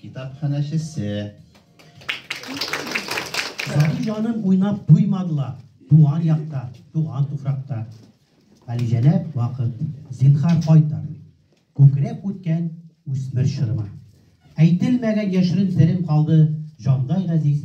Китапханәчесе. Сабый җаным уйнап туймадылар, туган якта, туган туфракта. Галиҗәнәп вакыт, зинхар кайтар. Күкрәп үткән үсмер чорыма. Әйтелмәгән яшерен серем калды, җандай газиз.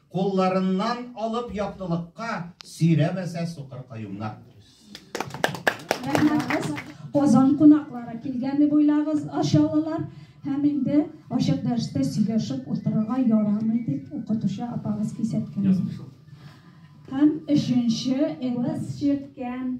Кулларыннан алып яктылыкка сөйрәмәсә сукыр каюмнар. Рәхмәт. Казан кунаклары килгәнне буйлагыз, ашалылар һәм инде ачык дәрестә сөйләшеп утырырга ярамый дип укытучы апагыз кисәткән. Һәм өченче эваз чирткән